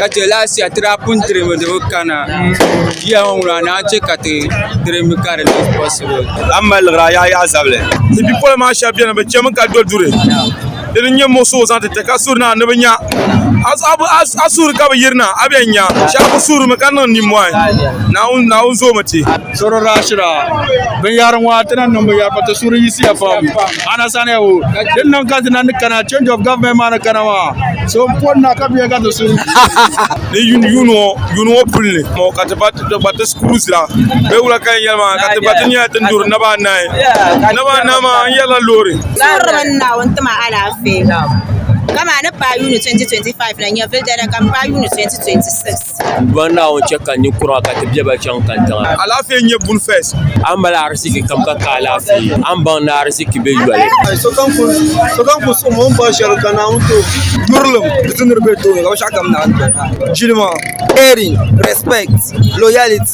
ka chɛ laashɛri ti daa pun diri mi di bi kana ʒiya ŋɔ ŋuna ni a ni chɛ ka ti diri mi ka di niŋ posibili a ni mali liɣiri a yaai yaɣa zabili ni bipola maa shab biɛni bi chɛmi ka do duri di ni nyɛ muɣisigu zaŋ ti ti ka suri na ni bi nya a suuri ka bi yirina a bi yɛn nya shab bi suurimi ka niŋ nimmohi naawuni zoomi ti binyahari ŋɔ ti na niŋ binyɛri pam ti suuri yiɣisiya pam Ana sani ya o ka din niŋ ka dina ni kana change of government maa ni kana maa so n poni na ka bɛ ka ti so ni yuuni ŋɔ yuuni ŋɔ puli ni ŋɔ ka ti ba ti gba ti kuli zira bɛ wula ka yɛn maa ka ti gba ti nyɛla ti duri naba anahi naba anahi maa n yɛrila loori. Sɔhiri mi ni Naawuni ti ma alaafee. Kama ni paai yuuni 2025 la nyɛvili dana ka m paai yuuni 2026. Duan Naawuni chɛ ka ninkura ka ti bɛ ba chaŋ kantiŋa. Alaafee n-nyɛ buni fes. A ni mali ariziki kam ka ka alaafee, a ni baŋ ni ariziki be yoli. Sokam ku suhim o ni bɔri shɛli ka Naawuni ti o. Yurilim di ti niriba tooni ka binshɛɣukam naai doya. Jilima, caring, respect, loyalty.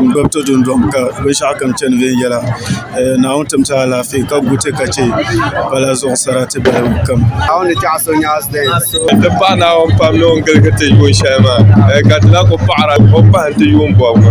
n gbubi to dundɔŋ ka binshɛɣu kam chɛ ni viɛnyɛla Naawuni tim ti alaafee ka guuti ka chɛ pala zuɣu sarati balibu kam n ti pahi Naawuni pam ni o ni giligi ti yuun shɛli maa ka di lahi ku paɣara o ni paham ti yuun bɔbigi